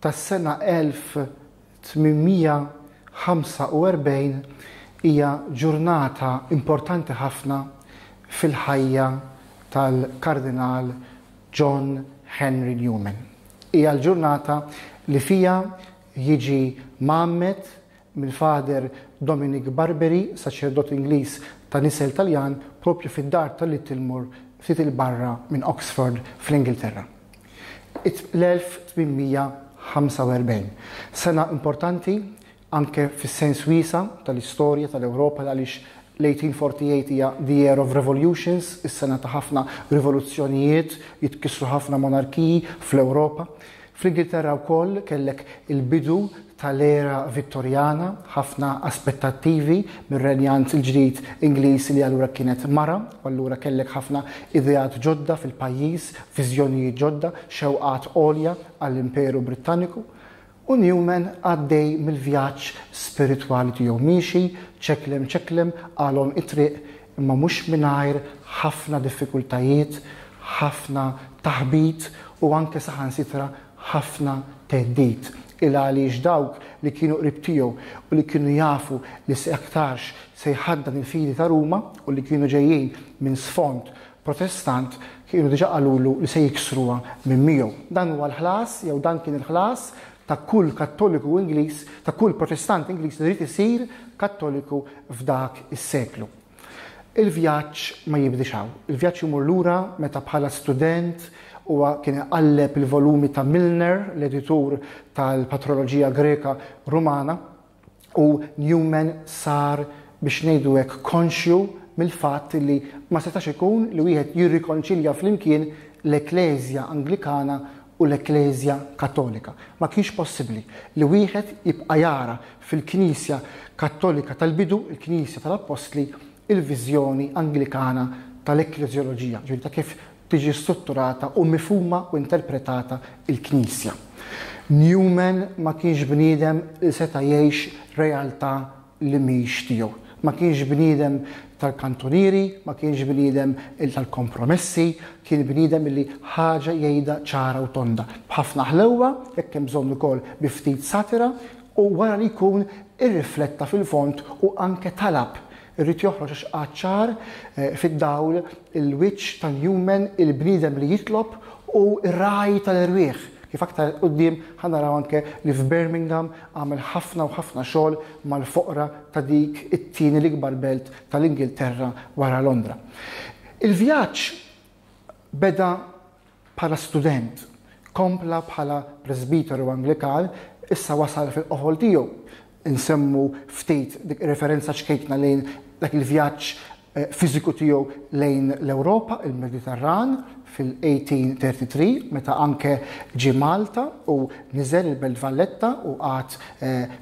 tas-sena 1845 hija ġurnata importanti ħafna fil-ħajja tal-Kardinal John Henry Newman. Hija l-ġurnata li fiha jiġi mgħammed mill-Father Dominic Barberi, saċerdot Ingliż ta' nisel Taljan, proprju fid-dar ta' Littlemore ftit 'il barra minn Oxford fl-Ingilterra. It-1845, sena importanti anke fis-sens wiesa' tal-istorja tal-Ewropa għaliex L-1848 hija the year of revolutions, is-sena ta' ħafna rivoluzzjonijiet, jitkissru ħafna monarkiji fl-Ewropa. Fl-Ingilterra wkoll kellek il-bidu tal-era Vittorjana, ħafna aspettattivi mir-renjant il-ġdid Ingliż li allura kienet mara, u allura kellek ħafna ideat ġodda fil-pajjiż, viżjonijiet ġodda, xewqat għolja għall-Imperu Brittaniku. U Newman għaddej mill-vjaġġ spiritwali tiegħu miexi ċeklem ċeklem qalhom it-triq imma mhux mingħajr ħafna diffikultajiet, ħafna taħbit u anke saħansitra ħafna theddid. Il għaliex dawk li kienu qrib tiegħu u li kienu jafu li se aktarx se jħaddan il-fidi ta' Ruma u li kienu ġejjin minn sfond Protestant kienu diġà qalulu li se jiksruha minn miegħu. Dan huwa l-ħlas jew dan kien il-ħlas ta' kull Kattoliku Ingliż, ta' kull Protestant Ingliż li ried isir Kattoliku f'dak is-seklu. Il-vjaġġ ma jibdiex hawn. Il-vjaġġ imur lura meta bħala student huwa kien iqalleb il-volumi ta' Milner, l-editur tal-Patroloġija Greka Rumana, u Newman sar biex ngħidu hekk konxju mill-fatt li ma setax ikun li wieħed jirrikonċilja flimkien l-Ekkleżja Anglikana u l-Ekkleżja Kattolika. Ma kienx possibbli li wieħed jibqa' jara fil-Knisja Kattolika tal-bidu, il-Knisja tal-Appostli, il-viżjoni Anglikana tal-ekkleżjoloġija, ġifieri ta' kif tiġi strutturata u mifhuma u interpretata l-Knisja. Newman ma kienx bniedem li seta' jgħix realtà li mhix tiegħu. Ma kienx bniedem tal-kantunieri, ma kienx bniedem tal-kompromessi, kien bniedem li ħaġa jgħidha ċara u tonda, b'ħafna ħlewwa, jekk hemm bżonn ukoll bi ftit satira, u wara li jkun irrifletta fil-fond u anke talab Irrid joħroġ għax qagħad ċar fid-dawl il-wiċċ tal-human, il-bniedem li jitlob u r-ragħaj tal-erwieħ. Kif aktar 'il quddiem ħa naraw anke li f'Birmingham għamel ħafna u ħafna xogħol mal-foqra ta' dik it-tieni l-ikbar belt tal-Ingilterra wara Londra. Il-vjaġġ beda Bħala student, kompla bħala presbiteru Anglikan, issa wasal fil-qoħol tiegħu. Insemmu ftit dik ir-referenza ċkejkna lejn dak il-vjaġġ fiżiku tiegħu lejn l-Ewropa, il-Mediterran, fil-1833 meta anke ġie Malta u niżel il-Belt Valletta u qagħad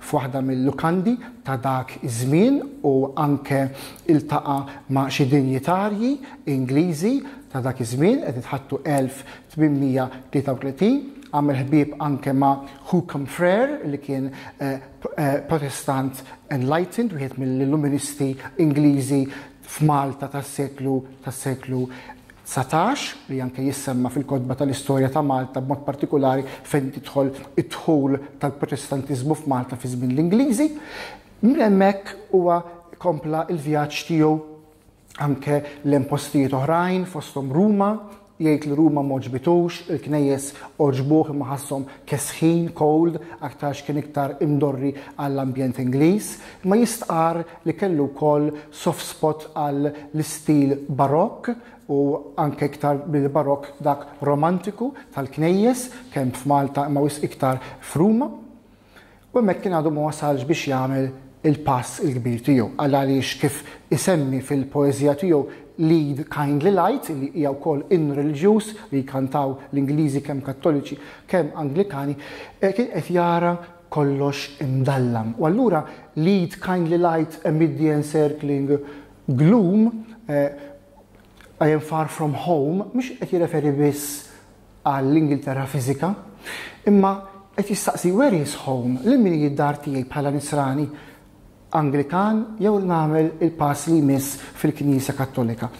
f'waħda mil-lukandi ta' dak iż-żmien u anke iltaqa' ma' xi dinjitarji Ingliżi Ta' dak iż-żmien qed nitħattu 1833, għamel ħbieb anke ma' Hucome Frere li kien Protestant enlightened, wieħed mill-Illuministi Ingliżi f'Malta tas-seklu tas-seklu 19 li anke jissemma fil-kotba tal-istorja ta' Malta b'mod partikolari fejn tidħol id-dħul tal-Protestantiżmu f'Malta fi żmien l-Ingliżi. Minn hemmhekk huwa kompla l-vjaġġ tiegħu anke lejn postijiet oħrajn fosthom Ruma, jgħid li Ruma m'għoġbitux, il-knejjes għoġbuh imma ħasshom kesħin, cold, aktarx kien iktar imdorri għall-ambjent Ingliż, imma jistqarr li kellu wkoll soft spot għall-istil Barokk u anke iktar mill-Barokk dak Romantiku tal-knejjes kemm f'Malta imma wisq iktar f'Ruma. U hemmhekk kien għadu ma wasalx biex jagħmel il-pass il-kbir tiegħu. Għal għaliex kif isemmi fil-poeżija tiegħu Lead Kindly Light, li hija wkoll in reliġjuż li jkantaw l-Ingliżi kemm Kattoliċi kemm Anglikani, eh, kien qed jara kollox imdallam. U allura Lead Kindly Light amid the encircling gloom, eh, I am far from home, mhux qed jirreferi biss għall-Ingilterra fiżika, imma qed jistaqsi where is home, lil min hi d-dar tiegħi bħala Nisrani Anglikan jew nagħmel il-pass li jmiss fil-Knisja Kattolika.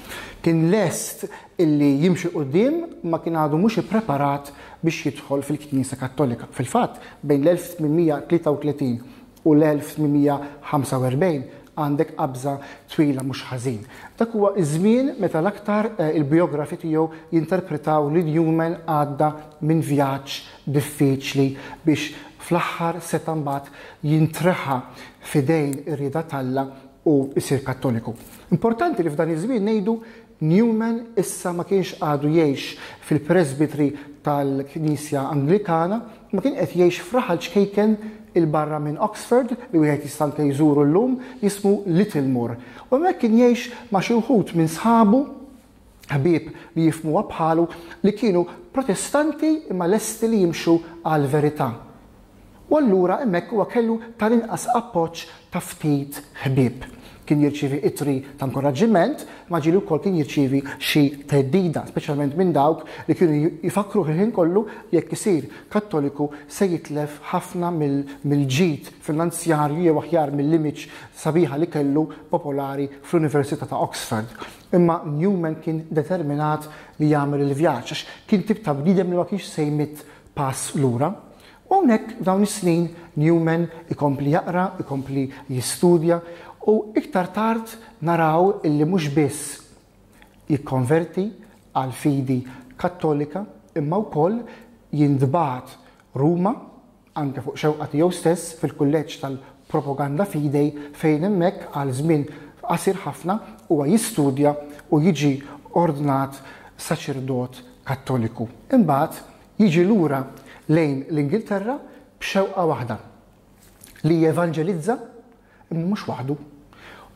Kien lest illi jimxi quddiem ma kien għadu mhux ippreparat biex jidħol fil-Knisja Kattolika. Fil-fatt, bejn l-1833 u l-1845 għandek qabża twila mhux ħażin. Dak huwa ż-żmien meta l-aktar il-bijografi tiegħu jinterpretaw li Newman għadda minn vjaġġ diffiċli biex fl-aħħar seta' mbagħad jintreħa f'idejn ir-rieda t'Alla u jsir Kattoliku. Importanti li f'dan iż-żmien ngħidu Newman issa ma kienx għadu jgħix fil-presbitri tal-Knisja Anglikana, imma kien qed jgħix f'raħal ċkejken 'il barra minn Oxford, li wieħed jista' anke jżuru llum, jismu Littlemore, u hemmhekk kien jgħix ma' xi wħud minn sħabu, ħbieb li jifhmuha bħalu, li kienu Protestanti imma lesti li jimxu għall-verità. U allura hemmhekk huwa kellu tal-inqas appoġġ ta' ftit ħbieb. Kien jirċievi ittri ta' nkoraġġiment, imma ġieli wkoll kien jirċievi xi theddida, speċjalment minn dawk li kienu jfakkruh il-ħin kollu li jekk isir Kattoliku se jitlef ħafna mill-ġid finanzjarju jew aħjar mill-image sabiħa li kellu popolari fl-Università ta' Oxford. Imma Newman kien determinat li jagħmel il-vjaġġ għax kien tip ta' bniedem li ma kienx se jmitt pass lura. U hawnhekk f'dawn is-snin Newman ikompli jaqra, ikompli jistudja u iktar tard naraw illi mhux biss jikkonverti għall-fidi Kattolika imma wkoll jintbagħat Ruma, anke fuq xewqa tiegħu stess, fil-Kulleġġ tal-Propaganda Fidei fejn hemmhekk għal żmien qasir ħafna huwa jistudja u jiġi ordnat saċerdot Kattoliku. Imbagħad jiġi lura lejn l-Ingilterra b'xewqa waħda, li jevanġelizza, imma mhux waħdu.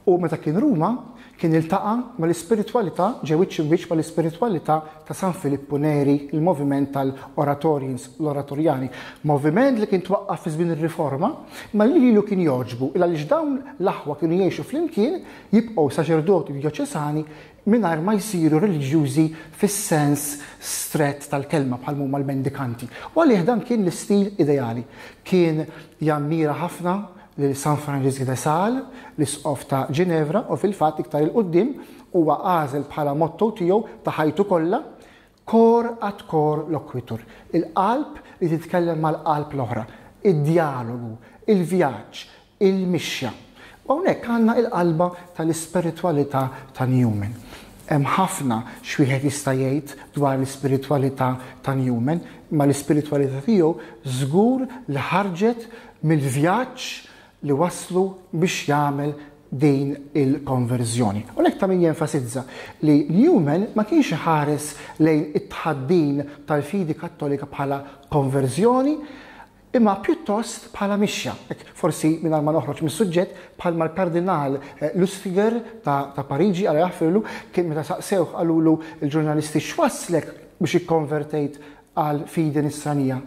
U meta kien Ruma, kien iltaqa' mal-ispiritwalità, ġie wiċċ imwiċċ mal-ispiritwalità ta' San Filippu Neri, il-moviment tal-Oratorians, l-Oratorjani. Moviment li kien twaqqaf fi żmien ir-Riforma, imma li lilu kien jogħġbu, il għaliex dawn l-aħwa kienu jgħixu flimkien, jibqgħu saċerdoti djoċesani, mingħajr ma jsiru reliġjużi fis-sens strett tal-kelma bħal ma huma l-mendikanti, u għalih dan kien l-istil ideali. Kien jammira ħafna lil San Franġisk de Sales, l-Isqof ta' Ġinevra, u fil-fatt iktar 'il quddiem huwa għażel bħala motto tiegħu ta' ħajtu kollha, Cor ad cor loquitur, il-qalb li titkellem mal-qalb l-oħra, id-djalogu, il-vjaġġ, il-mixja. U hawnhekk għandna l-qalba tal-ispiritwalità ta' Newman. Hemm ħafna x'wieħed jista' jgħid dwar l-ispiritwalità ta' Newman, imma l-ispiritwalità tiegħu żgur li ħarġet mill-vjaġġ li wasslu biex jagħmel din il-konverżjoni. U lek ta' min jenfasizza li Newman ma kienx iħares lejn it-tħaddin tal-fidi kattolika bħala konverżjoni, imma pjuttost bħala mixja, forsi mingħajr ma noħroġ mis-suġġett bħal mal-Kardinal eh, Lustiger ta', ta Pariġi għal jaħfirlu kien meta saqsewh qalulu l-ġurnalisti x'wasslek biex ikkonvertejt għal fidi nisranija.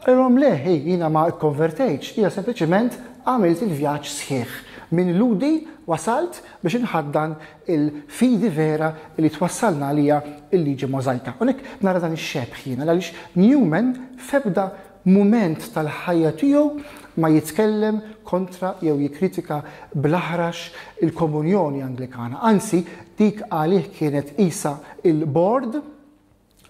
Qalilhom le, hi jiena ma kkonvertejtx, jiena sempliċement għamilt il-vjaġġ sħiħ. Minn Lhudi wasalt biex inħaddan il-fidi vera li twassalna għaliha l-liġi Możajka. Unek nara dan ix-xebħ jiena għaliex Newman f'ebda mument tal-ħajja tiegħu ma jitkellem kontra jew jikkritika bl-aħrax il-Komunjoni Anglikana. Anzi, dik għalih kienet isa il-bord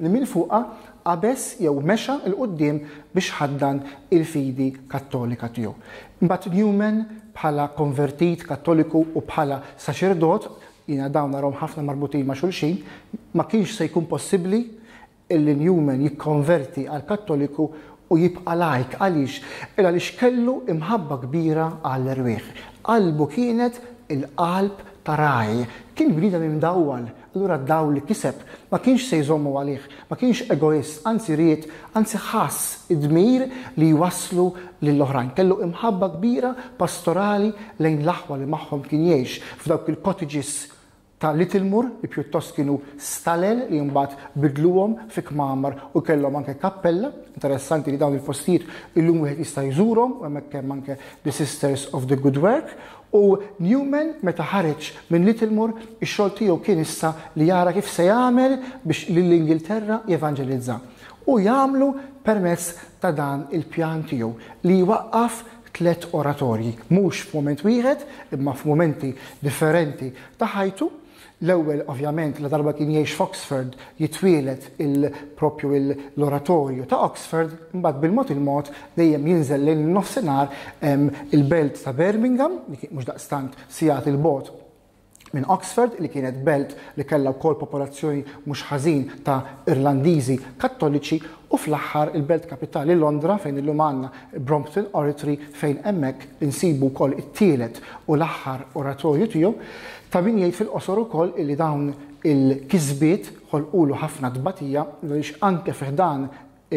li minn fuqha qabeż jew mexa 'l quddiem biex ħaddan il-fidi Kattolika tiegħu. Imbagħad Newman bħala konvertit Kattoliku u bħala saċerdot, jiena dawn narahom ħafna marbutin ma' xulxin, ma kienx se jkun possibbli illi Newman jikkonverti għal Kattoliku u jibqa' laik. Għaliex? Il għaliex kellu imħabba kbira għall-erwieħ. Qalbu kienet il-qalb ta' ragħaj. Kien bniedem imdawwal Allura d-dawl li kiseb ma kienx se jżommu għalih, ma kienx egoist, anzi ried, anzi ħass id-dmir li jwasslu lill-oħrajn. Kellu imħabba kbira pastorali lejn l-aħwa li magħhom kien jgħix f'dawk il-cottages ta' Littlemore li pjuttost kienu stalel li mbagħad bidluhom fi kmamar u kellhom anke kappella. Interessanti li dawn il-postijiet illum wieħed jista' jżurhom u hemmhekk hemm anke The Sisters of the Good Work U Newman meta ħareġ minn Littlemore, ix-xogħol tiegħu kien issa li jara kif se jagħmel biex lill-Ingilterra jevanġelizza. U jagħmlu permezz ta' dan il-pjan tiegħu li jwaqqaf tliet oratorji, mhux f'mument wieħed imma f'mumenti differenti ta' ħajtu, L-ewwel, ovvjament, ladarba kien jgħix f'Oxford, jitwieled il proprju l-Oratorju ta' Oxford, imbagħad bil-mod il-mod dejjem jinżel lejn in-Nofsinhar, il-belt ta' Birmingham, li kienet mhux daqstant sigħat 'il bogħod minn Oxford, li kienet belt li kellha wkoll popolazzjoni mhux ħażin ta' Irlandiżi Kattoliċi, u fl-aħħar il-belt kapitali Londra fejn illum għandna Brompton Oratory fejn hemmhekk insibu wkoll it-tielet u l-aħħar oratorju tiegħu. Tabin jgħid fil-qosor ukoll illi dawn il-kisbiet ħolqulu ħafna tbatija għaliex anke fi ħdan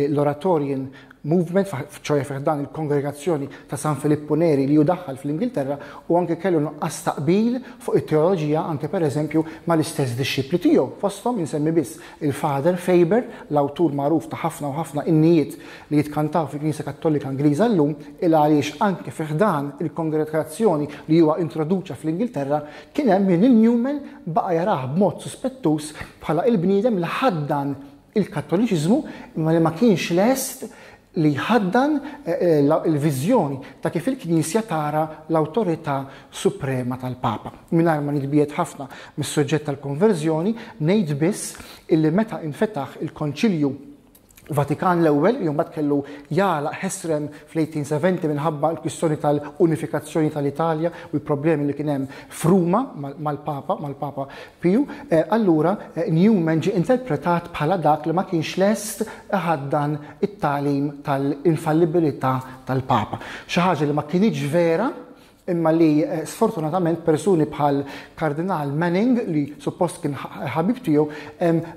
l-Oratorian Movement, ċoħe fi ħdan il-Kongregazzjoni ta' San Filippu Neri li hu daħħal fl-Ingilterra, u anke kellu nuqqas ta' qbil fuq it-teoloġija anke pereżempju mal-istess dixxipli tiegħu. Fosthom insemmi biss il-Father Faber, l-awtur magħruf ta' ħafna u ħafna innijiet li jitkantaw fil-Knisja Kattolika Ingliża llum il għaliex anke fi ħdan il-kongregazzjoni li huwa introduċa fl-Ingilterra kien hemm min lil Newman baqa' jarah b'mod suspettuż bħala il-bniedem li ħaddan il-Kattoliċiżmu imma li ma kienx lest li jħaddan il-viżjoni ta' kif il-Knisja tara l-awtorità suprema tal-Papa. Mingħajr ma nitbiegħed ħafna mis-suġġett tal-konverżjoni, ngħid biss illi meta infetaħ il-Konċilju Vatikan l-Ewwel li mbagħad kellu jagħlaq ħesrem fl-1870 minħabba l-kwistjoni tal-unifikazzjoni tal-Italja u l-problemi li kien hemm f'Ruma mal-Papa, mal-Papa Piju, eh, allura eh, Newman ġie interpretat bħala dak li ma kienx lest ħaddan it-talim tal-infallibilità tal-Papa. Xi ħaġa li ma kienx vera imma li eh, sfortunatament persuni bħal Kardinal Manning li suppost kien ħabib tiegħu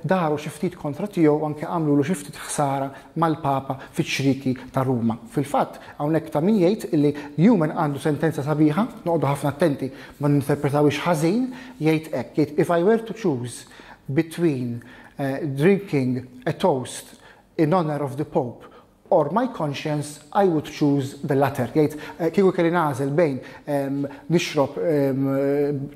daru xi ftit kontra tiegħu anke għamlu lu xi ftit ħsara mal-Papa fiċ-ċriki ta' Ruma. Fil-fatt hawnhekk ta' min jgħid li Newman għandu sentenza sabiħa, noqogħdu ħafna attenti ma ninterpretawiex ħażin, jgħid hekk, jgħid if I were to choose between uh, drinking a toast in honor of the Pope Or my conscience I would choose the latter, jgħid kieku kelli nagħżel bejn nixrob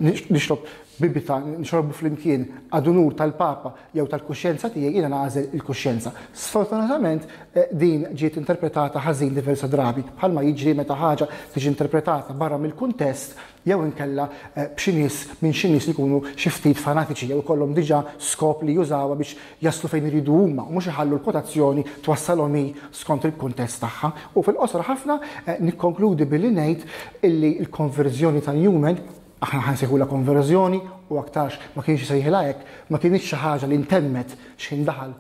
nixrob bibita nixrobbu flimkien ad unur tal-Papa jew tal-kuxjenza tiegħi jiena nagħżel il-kuxjenza. Sfortunatament din ġiet interpretata ħażin diversa drabi, bħalma jiġri meta ħaġa tiġi interpretata barra mill-kuntest jew inkella b'xi nies minn xi nies li jkunu xi ftit fanatiċi jew ikollhom diġà skop li jużawha biex jaslu fejn iridu huma u mhux iħallu l-kwotazzjoni twassalhom hi skont il-kuntest tagħha. U fil-qosor ħafna nikkonkludi billi ngħid illi l-konverżjoni ta' Newman, aħna ħa nsejħulha konverżjoni u aktarx ma kienx isejħilha hekk, ma kinitx xi ħaġa li ntemmet x'ħin daħal